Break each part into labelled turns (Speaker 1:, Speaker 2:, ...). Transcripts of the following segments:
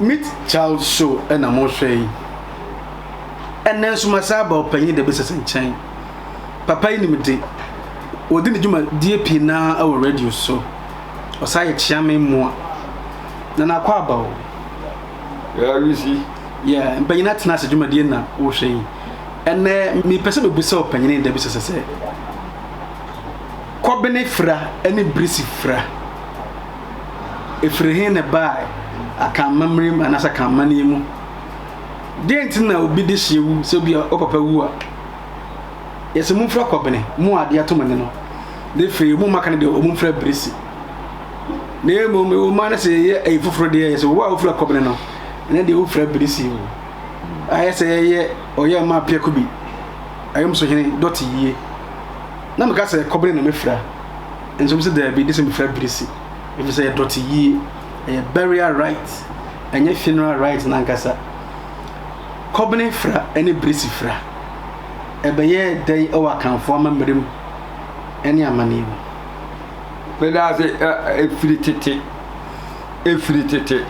Speaker 1: Meet Child show na morehwɛ yi. Ɛnnɛ nso masan aba Ɔpanyin Debesese nkyɛn. Papa yi nim de. Ɔdi ne dwumadie pii no ara wɔ radio so. Ɔsan yɛ Kyeame mmoa. Na n'akɔ aba o.
Speaker 2: Yɛa resi. Yeah, Mpanyin
Speaker 1: Atena Ase dwumadie na worehwɛ yi. Ɛnnɛ mepɛ sɛ mebisa Ɔpanyin Debesese sɛ, Kɔbene Fira ne Birisi Fira, Ɛfiri he na ɛbae? Akanmammerɛ mu anaasɛ akanmanneɛ mu? Deɛ nti na obi de hyeɛ wu sɛ obi a wo papa wu a, yɛsɛ momfira kɔbene, mo a adeɛ ato mo ani no, na ɛfiri mo mma ka no deɛ ɔmo mfira birisi. Na mmom wo mma no sɛ yɛyɛ ayi foforɔ deɛ yɛsɛ wo a wofira kɔbene no, ɛnɛ deɛ wofira birisi o. Ayɛ sɛ yɛyɛ ɔyɛ ma apiako bi, ayɔmsohene dɔte yie. Na meka sɛ kɔbene na mɛfira. Nso mese daabi de sɛ mefra birisi efisɛ ɛdɔte yie. Ɛyɛ burial rite ɛnyɛ funeral rite no ankasa. Kɔbene fra ne birisi fra ɛbɛyɛɛ dɛn wɔ Akanfoɔ amammerɛ mu ne amanneɛ mu?
Speaker 2: Meda ase ɛfiri tete ɛfiri tete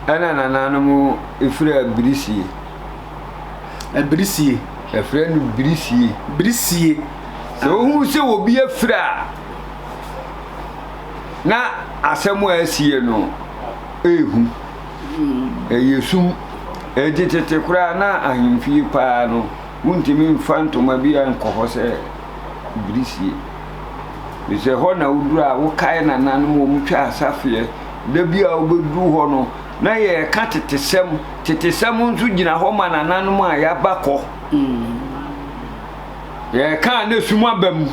Speaker 2: ɛna nananom ɛfira birisie.
Speaker 1: Birisie. Ɛfrɛ no
Speaker 2: birisie. Birisie. Sɛ wohunu sɛ obi afiri a, na asɛm a asiɛ no ehu. Ɛyɛ sum. Enti tete koraa na ahemfie paa no, wontumi mfa ntoma bi a nkɔ hɔ sɛ bere sie. Efisɛ hɔ na woduru a wokae nananom a wɔtwa asafeɛ. Da bi a wobɛduru hɔ no, na yɛreka tetesɛm. Tetesɛm nso gyina hɔ ma nananom a yɛaba kɔ. Mm. yɛkaa na sum aba mu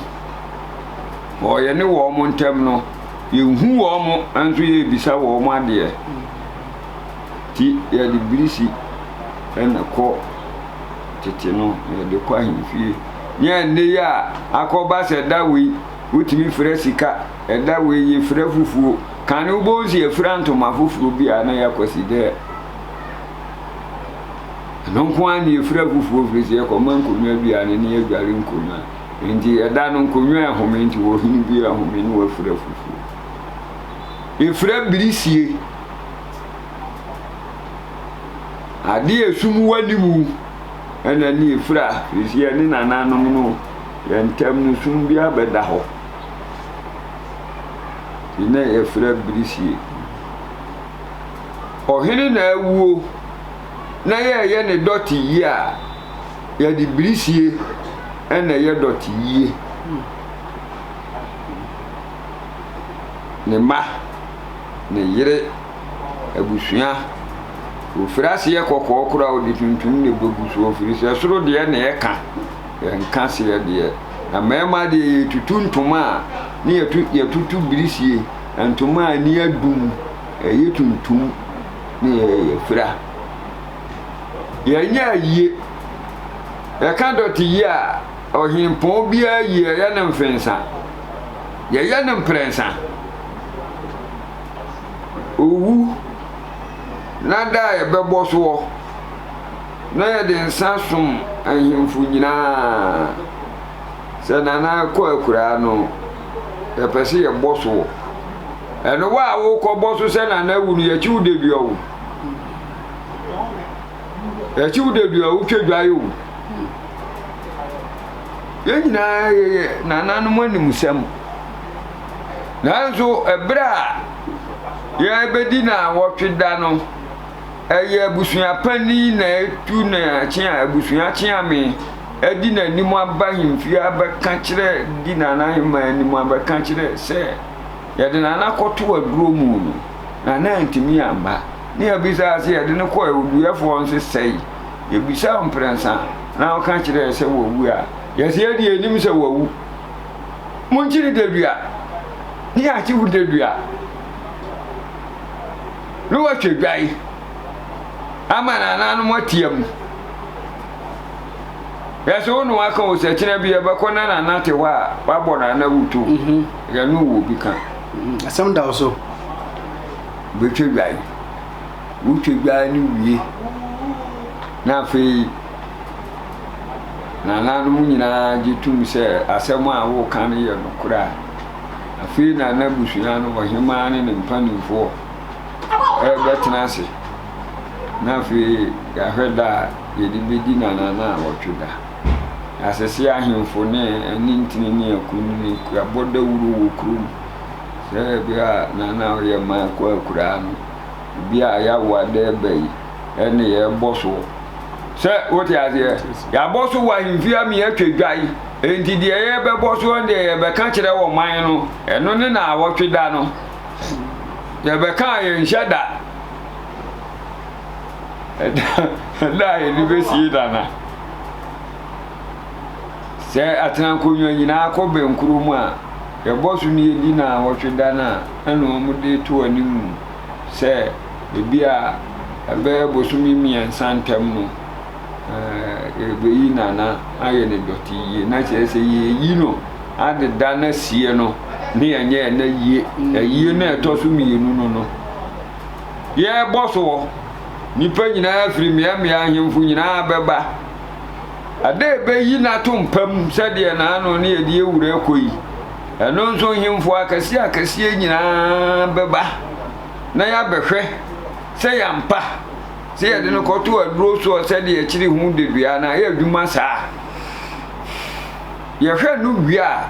Speaker 2: wɔ yɛne wɔn ntam no, yɛhu wɔn nso yɛbisa wɔn adeɛ. Nti yɛde birisi na kɔ tete no na yɛde kɔ ahemfie. Nyɛ nne yi a akɔba sɛ da wei wotumi fira sika, ɛda wei yɛfira fufuo. Kane wobɛhu sɛ yɛfira ntoma foforɔ bi a na yɛakwasi dɛ. Ɛno nko ara na yɛfiri afoforɔ firi sɛ yɛkɔma nkonnwa aduane ne ne yɛadware nkonnwa. Nti ɛda no nkonnwa ɛhome nti wɔhene bi ahome ne wafiri afoforɔ. Yɛfiri abirisie. Ade a ɛsum wani mu ɛna ne yɛfira firi sɛ yɛne nananom no yɛn ntam no sum bi abɛda hɔ. Nti na yɛfiri abirisie. ɔhene na awuo na yɛyɛ ne dɔte yie a, yɛde birisie na ɛyɛ dɔte yie. Ne mma, ne yere, abusua, wɔfiri aseɛ kɔkɔɔ koraa wɔde tuntum na ɛbɛgu so, wɔfiri sɛ soro deɛ na ɛka, yɛnka seɛ deɛ. Na mmarima deɛ yɛtutu ntoma a, ne yɛtutu birisie, ntoma a ani adum. ɛyɛ tuntum ne ɛyɛ fira. Yɛnyɛ ayie. Yɛka dɔte yie a, ɔhempɔn biara yie ɛyɛ ne mfensa. Yɛyɛ ne mprɛnsa. Owu na da a yɛbɛbɔ soɔ na yɛde nsa som ahemfo nyinaa. Sɛ Nana kɔ akuraa no, yɛpɛ sɛ yɛbɔ so wɔ. Ɛno wo a wokɔ bɔ so sɛ Nana awu no, yɛkyi wo dadua o. Yɛkyi wo dadua, wotwa dwae o. Yɛn nyinaa yɛyɛ nananom animsɛm. Nanso, ɛberɛ a yɛbɛdi na wɔtwe da no, ɛyɛ abusua panyin na etu ne akyea abusua kyeame adi n'anim aba ahemfie abɛka kyerɛ di Nana Aheman anim abɛka kyerɛ sɛ yɛde Nana akɔto aduro mu no Nana antumi amba ne yɛbisa sɛ yɛde no kɔ awuduyɛfoɔ nso sɛe yɛbisa wo mprɛnsa na ɔka kyerɛ sɛ wawu a yɛsɛ yɛde anim sɛ wawu monkyere dadua ne yɛakyew dadua na wɔatwa dwae ama nananom atia mu. Yɛsɛ wo ne waka wo sɛ kyena bi yɛbɛkɔ na nana te hɔ a wabɔ nana wuto. Mhm. Yɛne wo bi ka. Mhm. Asɛm da wo so. Wobɛtwa dwae. Wotwa dwae no wie na afei nananom nyinaa gye tom sɛ asɛm a woka no yɛ nokorɛ a Afei na n'abusua no, ɔhemmaa ne ne mpanimfoɔ, rebɛtena ase. Na afei yɛahwɛ da a yɛde bɛdi nanana a wɔtwe da. Asese ahemfo ne anintini ne akunini abɔ dawuro wɔ kurom sɛ bia nana a ɔyɛ man kɔ akuraa no, bia yɛawo ada ɛba yi, ɛne yɛbɔ soɔ. Sɛ wote aseɛ, yɛabɔ so wɔ ahemfie a meyɛtwa dwa yi. Enti deɛ yɛbɛbɔ soɔ no deɛ yɛbɛka kyerɛ wɔ man no, ɛno ne naawɔtwe da no. Yɛbɛka a yɛnhyɛ da. Ɛda a yɛde bɛsie da no. Sɛ atenankonnwa nyinaa kɔ bɛnkuro mu a, yɛbɔ so no yɛdi naawɔtwe da no a ɛna wɔn de to anim sɛ ebi a ɛbɛyɛ bosome mmiɛnsa ntam no. yɛrebɛyi nana ayɛ no dɔte yie na kyerɛ sɛ yɛyi no adeda no asie no ne yɛnyɛ ɛna yie ayie mm. no ɛtɔ so mmienu no no yɛrebɔ soɔ nnipa nyinaa firi mmeammea ahemfo nyinaa bɛba ada ɛbɛyi no ato mpam sɛdeɛ naano ne yɛde awura kɔ yi ɛno nso hemfo akɛseɛ akɛseɛ nyinaa bɛba na yɛabɛhwɛ sɛ yɛampa Sɛ yɛde no kɔto aduro soɔ sɛdeɛ akyiri ho dedua no a, ɛyɛ adwuma saa. Yɛhwɛ no wie a,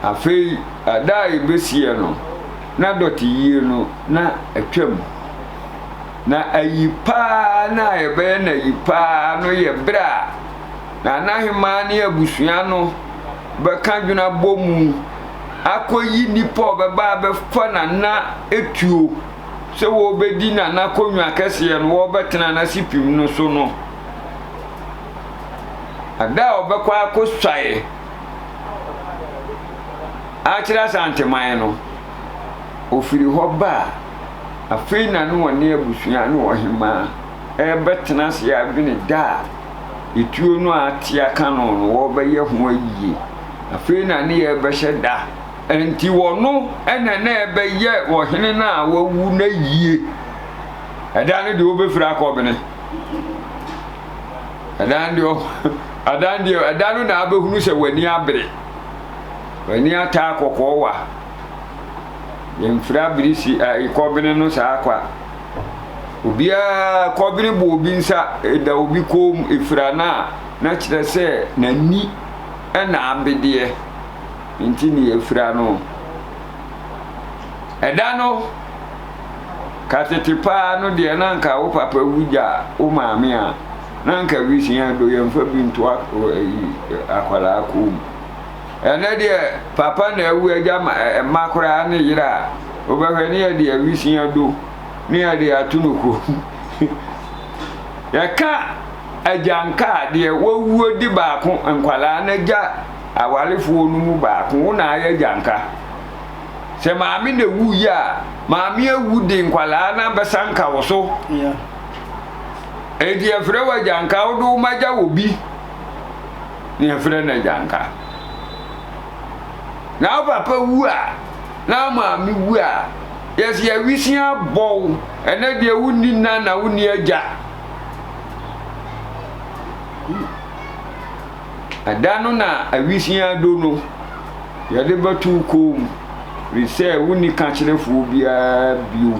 Speaker 2: afei ada a yɛbɛsiiɛ no, na dɔteyie no na atwam. Na ayi paa no a yɛbɛyɛ no ayi paa no yɛ berɛ a Nana Hemaa ne abusua no bɛka adwene abɔ mu akɔyi nnipa a wɔbɛba abɛfa Nana tuo sɛ wɔrebɛdi Nana Konwa kɛseɛ no, wɔrebɛtena n'asipim no so no, ɛda a ɔbɛkɔ akɔsuae akyerɛ Asanteman no, ɔfiri hɔ ba a, afei na ne ɔne abusua ne ɔhemaa rebɛtena ase adwene da a etuo no a ate aka no no wɔrebɛyɛ ho ayie. Afei na ne yɛrebɛhyɛ da Enti ɔno na na ɛbɛyɛ ɔhene no a wawu no ayie. Ɛdan no deɛ wobɛfiri akɔ bene. Ɛdan deɛ ɛdan deɛ ɛdan no na abɛhunu sɛ w'ani abere. W'ani ataa kɔkɔɔ wa. Yɛmfiri abere si kɔ bene no saa kwa. Obiara kɔ bene bɔ obi nsa da obi kɔn mu efira no a na kyerɛ sɛ n'ani ɛna abedeɛ. Nti ne yɛafira no. Ɛda no, ka tete paa no deɛ na anka wo papa wu gya wo maame a, na anka bi si yɛn do yɛmfa bi nto akwadaa kɔn mu. Ɛnɛ deɛ papa na awu agya mma koraa ne yere a, wobɛhwɛ ne yɛde awisia do ne yɛde ato no kɔn mu. Yɛka agyanka a, deɛ wawuo di baako, nkwadaa no agya awarefoɔ no mu baako, wo na ayɛ gyanka. Sɛ maame na wuiɛ a, maame awu de nkwadaa no abɛsa nka wo so. Enti yɛfrɛ wɔ agyanka, wode wo ma gya wɔ bi, na yɛfrɛ no agyanka. Na wo papa wu a, na maame wu a, yɛsi awisi abɔw, ɛnɛ deɛ wonni nna na wonni agya. Ɛda no na awisiaa do no yɛde bɛtow kɔɔ mu, firi sɛ wonni kakyerɛfoɔ biara bio.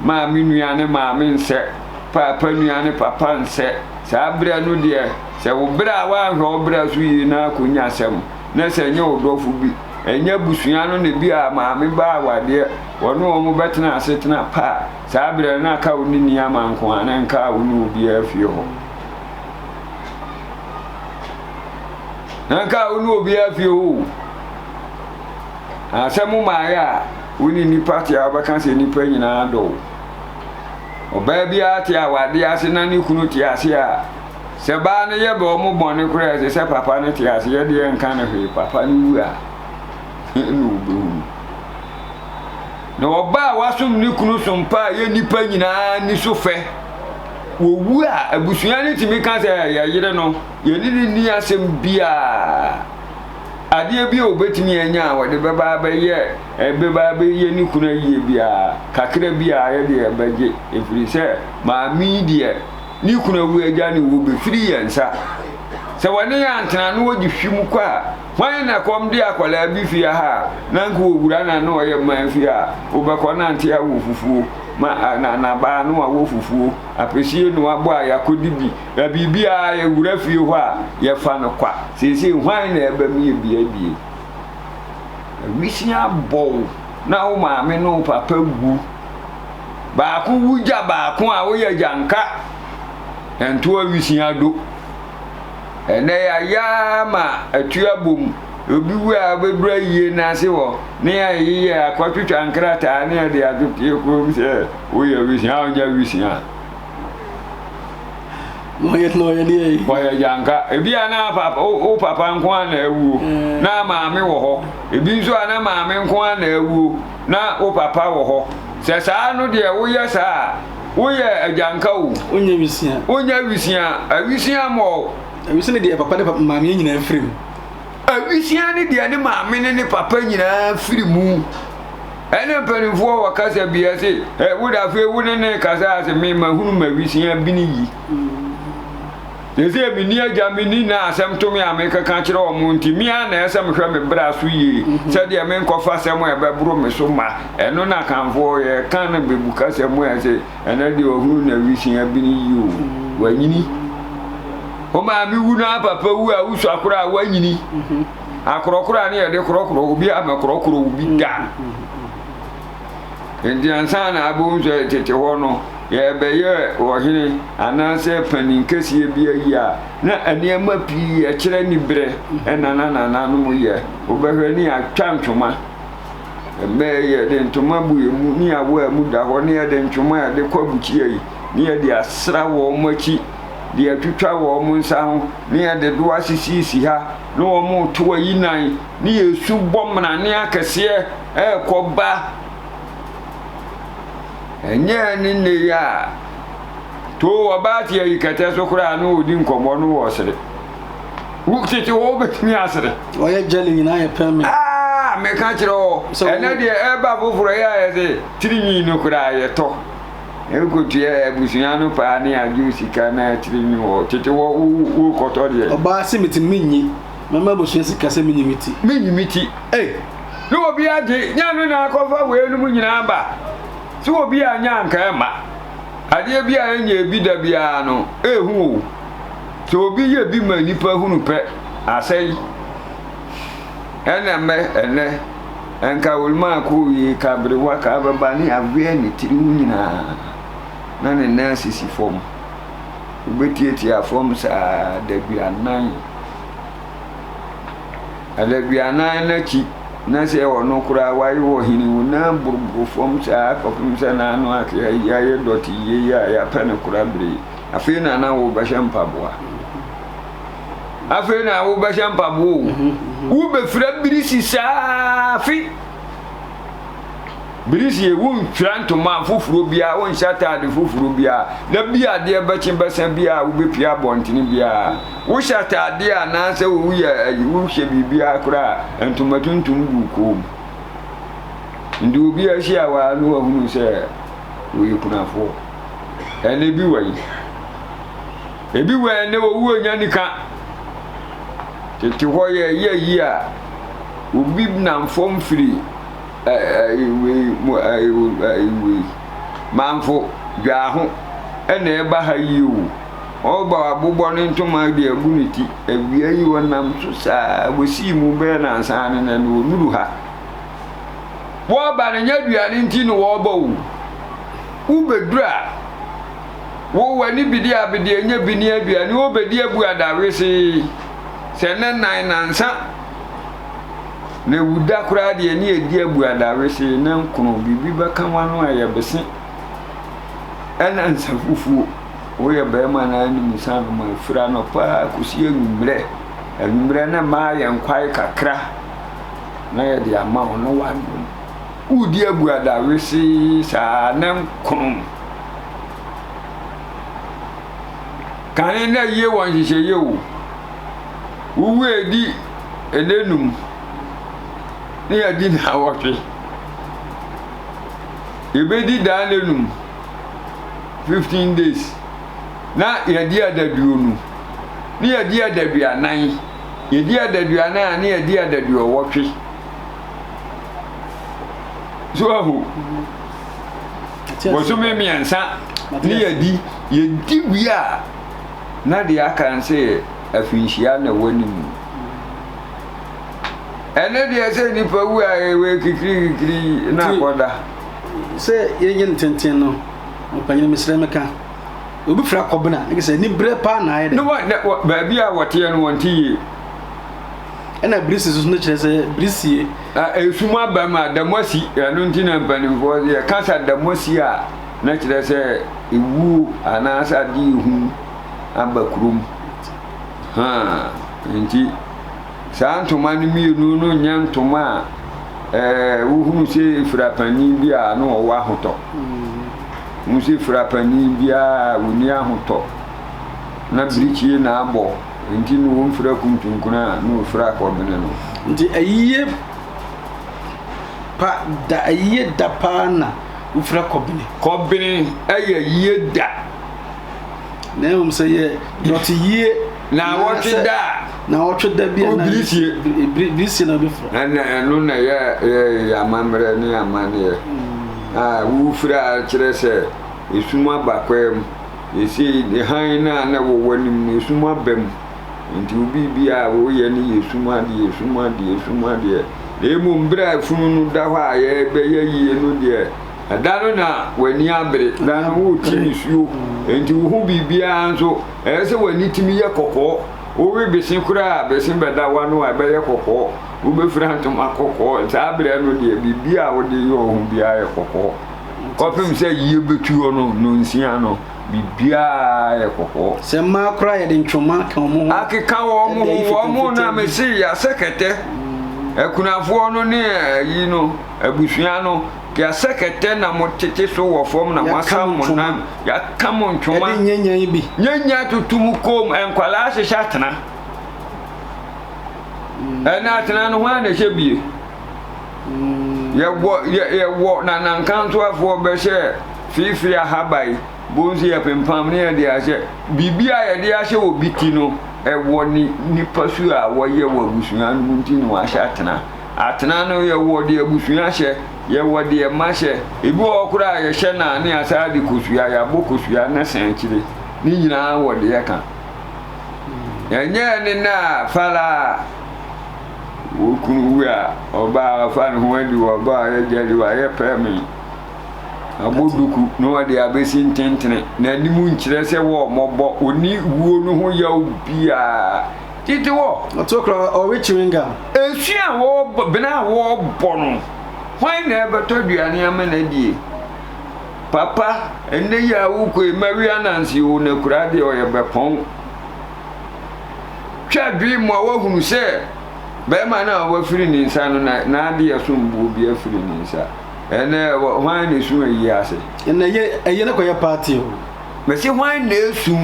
Speaker 2: Maame nua ne maame nsɛ, paapa nua ne papa nsɛ. Saa berɛ no deɛ, sɛ wo bra a woanhwɛ wo bra so yie na akɔnya asɛm, na sɛ ɛnyɛ wo dɔfo bi, ɛnyɛ abusua no na ebia maame ba awadeɛ, wɔne wɔn bɛtena asetena pa a, saa berɛ no na ka wo ne Niama nko ara, na ɛnkaa wo ne obiara fie hɔ. na nka wo ne obiara fie hɔ o asɛ mo maayɛ a wo ne nnipa te a wobɛka sɛ nnipa nyinaa dɔ wo ɔbaa biara te a wade ase na ne kunu te ase a sɛ baa no yɛ bɛ ɔmo bɔne koraa ɛsɛ sɛ papa no te ase yɛ deɛ nka no hwee papa no wu a ɛna wobɛhunu Na ɔbaa a wasom ne kunu so mpa a ɛyɛ nnipa nyinaa ani so fɛ. Wɔwu a, abusua no tumi ka sɛ, Yɛn yere no, yɛne no nni asɛm biara. Adeɛ bi a ɔbɛtumi anya a ɔde bɛba abɛyɛ ɛbɛba abɛyɛ ne kunu ayie biara, kakra biara yɛ deɛ yɛbɛgye, ɛfiri sɛ maame yi deɛ, ne kunu awu agya no wu, bɛfiri yɛn nsa. Sɛ wɔne yɛn antena na wɔgye hwim kɔ a, Hwan na kɔm de akwadaa bi fie ha a na nka wɔwura no a na ɔyɛ mmaa fie a wobɛkɔ na nte awɔ fufuo ma na na baa no awɔ fufuo apesie na wabɔ a yɛakɔdi bi na biribiara yɛwura fie hɔ a yɛfa no kwa seesei hwan na ɛba mu yɛ bia bie awisia bɔ wo na wo maame ne wo papa wu baako wu gya baako a woyɛ gya nka ɛnto awisia do. Ɛnnɛ yɛayɛ ara ma atu abom, obi wu a wobɛduru ayie no ase hɔ ne ayeyɛ, akɔtwitwa nkrataa ne ɛde ato pie korom sɛ woyɛ awisiaa a wonyɛ awisiaa.
Speaker 1: Wɔyɛ na ɔyɛ deɛ yi. Wɔyɛ gyanka.
Speaker 2: Ebi a na papa wo papa nko ara na awuo na maame wɔ hɔ. Ebi nso a na maame nko ara na awuo na wo papa wɔ hɔ. Sɛ saa no deɛ woyɛ saa a. Woyɛ agyanka o. Wonyɛ wisia. Wonyɛ
Speaker 1: wisia. Awisia mɔ
Speaker 2: o. Awisia ne deɛ papa ne
Speaker 1: papa maame nyinaa firi mu. Awisia
Speaker 2: ne deɛ ne maame ne ne papa nyinaa firi mu. Ɛne mpanimfoɔ wɔ kasa bi ɛse ɛ wode afei wo ne ne kasa ase me mahunu ma wisia bini yi. Mm. Seesei minni agya, minni nã, asɛm to me a merekɛka akyerɛ wɔn nti, me ara na ɛsɛ sɛ mehwɛ me bra so yie sɛdeɛ merenkɔfa asɛm a ɛbɛboro me so mma. Ɛno na Akanfoɔ yɛ, ka no Bebu kasa mu ɛ se, Ɛnnɛ deɛ ɔhunu na wisin abene yie o, wanyini. Wo maame wu na wo papa wu a, wosua koraa a, woanyini. Akorɔkorɔ a ne yɛde korɔkorɔ obi a, mɛkorɔkorɔ wo bi da. Enti ansa na abohu sɛ tete hɔ no yɛrebɛyɛ ɔhene anaasɛ panin kɛseɛ bi ayi a, na nneɛma pii ɛkyerɛ niberɛ na na nananom yɛ. Wobɛhwɛ ne yɛatwa ntoma, ɛmɛ yɛde ntoma bu yɛn mu, ne yɛawo a ɛmu da hɔ, ne yɛde ntoma a yɛde kɔ abukyia yi, ne yɛde asra wɔn akyi, de atwitwa wɔn nsa ho, ne yɛde doa sisisisi ha, ne wɔn reto ayi nan. ne yɛn su bɔ mmrane akɛseɛ ɛrekɔ ba. Ɛnyɛɛ ne nne yɛ a, too ɔbaa te ayi kɛtɛ so koraa na ɔredi nkɔmmɔ no wɔ sere. Wo tete hɔ wobɛtumi asere. Ɔyɛ jelly nyinaa
Speaker 1: yɛ pɛ me. Ah, meka
Speaker 2: kyerɛ hɔ, ɛnɛ deɛ ɛba foforɔ yɛ ayɛ sɛ tirinwi no koraa yɛtɔ. Ɛkɔtua abusua no paa ne agye sika na tirinwi hɔ. Tete hɔ wokɔtɔ deɛ. Ɔbaa se metumi menyi.
Speaker 1: Mɛma abusua si ka sɛ menyi me ti. Menyi me ti. Ei! Ne
Speaker 2: obi agye, nya no na akɔfa weinom nyinaa ba. Sɛ obi annya anka ɛmma. Adeɛ bi a ɛnyɛɛ bi da biara no, ɛhu o. Sɛ obi yɛ bi ma nnipa hunu pɛ, asɛe. Ɛna mmɛ, ɛnnɛ, ɛnka Wilmaa kooyie, ka aberewa, ka ababaa ne aweɛ ne tiri ho nyinaa, na ne nan sisi fam. wobɛtiatia fam saa adaduanan. Adaduanan no akyi na sɛ ɔno koraa wayɛ ɔhene wo nan boroboro fam saa kɔpem sɛ n'ano ake ayi ayɛ dɔte yie yi a yɛapɛ no kora bere yi afei na na wobɛhyɛ mpaboa afei na wobɛhyɛ mpaboa o wobɛfira birisi saa afe Bere sie, wonntwira ntoma foforo biara, wonnhyɛ atade foforo biara, na bi a adeɛ bɛkye bɛsa biara a wobepue abɔntene biara. Wohyɛ atade a anaasɛ woyɛ ayi wohyɛ biribiara koraa a, ntoma tuntum gu wo kɔn mu. Nti obi ahyia wo a na wahunu sɛ woyɛ kunafoɔ. Ɛnna ebi wɔ yi. Ebi wɔ yɛn nnɛ wɔwu ɔnya nika. Tete hɔ yɛyɛ ayi a obi nam fam firi manfo dwaa ho na ɛba ha yi o. Ɔba abobɔ ne ntoma de agu ne ti. Awia yi ɔnam so saa wɔsii mu bɛyɛ nansa ne nɛ no ɔnuru ha. Wɔba no nyɛ aduane nti na wɔba o. Wobɛduru a. Wo w'ani bidi abidi enya bi ne aduane o bedi abu ada wesee sɛ nnɛ nan nansa na ewu da koraa deɛ ne edi abu ada wesee ne nkono biribi bɛka w'ano a yɛ bese ɛna nsa fufuo woyɛ bɛrima na anim nsa nom a ɛfiri anɔpa kɔsi anwummerɛ anwummerɛ ne mmaa yɛn kwae kakra na yɛde ama wo na w'anom wodi abu ada wesee saa ne nkono Kane na yie wɔ nhyehyɛeɛ o. Wowu edi ɛnɛ num ne yɛadi na awɔtwe. Yɛbɛdi daa na num fifteen days na yɛadi adaduonu ne yɛadi adaduanan yɛdi adaduanan a ne yɛadi adaduɔwɔtwe. So ahu. bosome mmiɛnsa ne yɛdi yɛdi wie a na deɛ aka n sɛ afinhyia na ɛwɔ ne mu ɛne deɛ sɛ nipa wu a ɛwɔ kikirikikiri na akɔda sɛ
Speaker 1: yɛnyɛ no tenten no mpanyini mesrɛ meka obi fira kɔbena ne sɛ ni berɛ paa na ayɛ dɛ baabi
Speaker 2: a wɔteɛ no wɔnte yie
Speaker 1: ɛna birisi nso no kyerɛ sɛ birisie. a esum aba
Speaker 2: mu a damosi ɛno nti na mpanimfoɔ yɛ kasa damosi a na kyerɛ sɛ ewuo anaasɛ ade ehu aba kurom ha nti saa ntoma no mmienu no nyɛ ntoma a ɛɛ wohunu sɛ efira panin bi a na ɔwɔ ahotɔ wohunu sɛ efira panin biara wɔni ahotɔ na birikyie na abɔ Enti no womfira kuntunkuna a no wofira kɔbene no. Enti ayiyɛ
Speaker 1: pa da ayiyɛ da paa na wofira kɔbene. Kɔbene ɛyɛ ayiyɛ
Speaker 2: da.
Speaker 1: Na ɛhom sɛ yɛ dɔteyie. Na wɔtwe
Speaker 2: da a. Na wɔtwe da bi a. Obirisie.
Speaker 1: Birisie na wobɛfira. Ɛna ɛno na yɛ
Speaker 2: yɛ amammerɛ ne amanneɛ a wofira kyerɛ sɛ esum aba kwaa mu. Seesei de, hann no a na ɛwɔ w'anim no, esum aba mu, enti wo biribiara a woreyɛ no yɛ sum adeɛ, esum adeɛ, esum adeɛ. Na mmom berɛ a funu no da hɔ a yɛrebɛyɛ yie no deɛ, ɛda no na w'ani abere, da no worete nisuo, enti wohu biribiara nso, ɛyɛ sɛ w'ani tumi yɛ kɔkɔɔ. Wowe bese koraa a, bese bɛda w'ano a ɛbɛyɛ kɔkɔɔ, wobɛfira ntoma kɔkɔɔ, saa berɛ no deɛ, biribiara a wode yɛ wo ho biara yɛ kɔkɔɔ. Kɔpem sɛ yie bɛtu hɔ no nnɔnsia no, biribiara yɛ kɔkɔɔ. Sɛ mmaa koraa yɛde
Speaker 1: ntwoma ka wɔn ho. Akeka wɔn
Speaker 2: ho, wɔn na mese yɛasɛ kɛtɛ. Akunafoɔ no ne ayi no, abusua no, yɛasɛ kɛtɛ na motete so wɔ fam na moasa mo nan, yɛaka mo ntwoma. Ɛde nyanya yi bi. Nyanya toto mo kɔn mu, nkwadaa ahyehyɛ atena. Ɛna atena no hwan na ɛhyɛ bie? Yɛwɔ yɛ yɛwɔ na na nkantoafoɔ bɛhyɛ feefee ahaba yi bon so yɛpempam ne yɛde ahyɛ biribi a yɛde ahyɛ wɔ bi ti no ɛwɔ ne nipa su a wɔyɛ wɔ abusua no mu nti na wɔahyɛ atena atena no yɛwɔ deɛ abusua hyɛ yɛwɔ deɛ mma hyɛ ebi wɔ hɔ koraa a yɛhyɛ na ne asaa de kosua yɛabɔ kosua ne sɛn akyire ne nyinaa wɔ deɛ ɛka ɛnyɛ ne na a fala a. Wo kunu wu a, ɔbaa a ɔfa ne ho adi wɔ ɔba a ɔyɛ gya di wayɛ pɛɛme. Abɔ duku na ɔde abesi ntentene. N'anim nkyerɛ sɛ wɔ ɔmɔbɔ, ɔni wuo no ho yaw biara. Titi wɔ. Ɔto kora ɔwe
Speaker 1: chewing gum. Esu a
Speaker 2: wɔbɔ, bena a wɔbɔ no, hwan na ɛbɛtɔ aduane ama no adie? Papa, ɛnnɛ yi a wokɔ yi, mawia nanse o, na kura deɛ ɔyɛ bɛpɔn. twa adwene mu a wahunu sɛ bɛrima no a wafiri ne nsa no na n'adeɛ som bo obi afiri ne nsa ɛnɛ hwan na esu ayi ase. ɛnɛ yɛ ɛyɛ
Speaker 1: no kɔyɛ party o. mɛsi hwan
Speaker 2: na esu.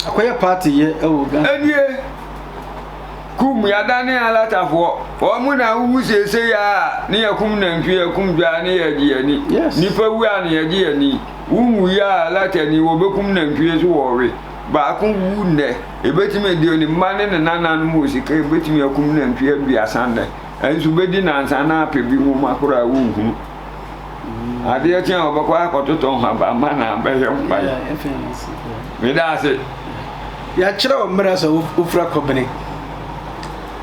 Speaker 2: akɔyɛ party
Speaker 1: yɛ ɛwɔ ghana. ɛnie
Speaker 2: kum yadane alatafoɔ wɔn mu na ahuhu seesei a ne yɛ kum nantwi yɛ kum dwaa ne yɛ gye yɛni yes. nipa wu a ne yɛ gye yɛni wuhu yi a alatani wɔbɛkum nantwie so wɔwe. baako wu nnɛ, ebetumi de ne mma ne ne nananom wɔ sika ebetumi akum nantwi aduasa nnɛ, nanso bedi nnansa na apɛ bi nwoma koro a wonhunu. Adeɛ kye a ɔbɛkɔ akɔtotɔ nhabamma na abɛyɛ mpae. Meda ase. Yɛakyerɛ
Speaker 1: wo mmerɛ sɛ wofira kɔbene.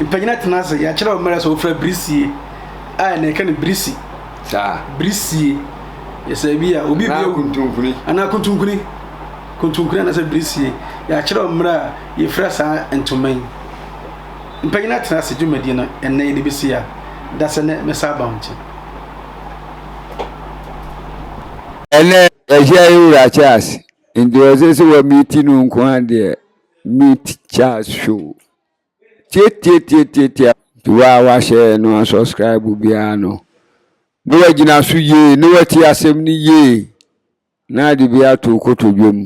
Speaker 1: Mpanyina tena ase. Yɛakyerɛ wo mmerɛ sɛ wofira birisie. A ɛnɛ yɛka no birisi. Saa.
Speaker 2: Birisie.
Speaker 1: Yɛsɛ bi a obi bio. Anaa kuntunkuni. Anaa
Speaker 2: kuntunkuni.
Speaker 1: Kontonkuro anaasɛ birisie, yɛakyerɛw mmerɛ a yɛfira saa ntoma yi. Mpanyin atena ase dwumadie no ɛnnɛ yɛde bɛsi a da sɛ nɛ mɛsan aba wo nkyɛn.
Speaker 2: Ɛnɛ yɛahyia yɛ wura Charles nti ɔsɛ sɛ wɔ miiti no nko ara deɛ meet Charles show tiatiatiatiatia nti wo a wahyɛ no asubscribe biara no na wagyina so yie na wati asɛm no yie. Na ade bi ato wo kotodwe mu.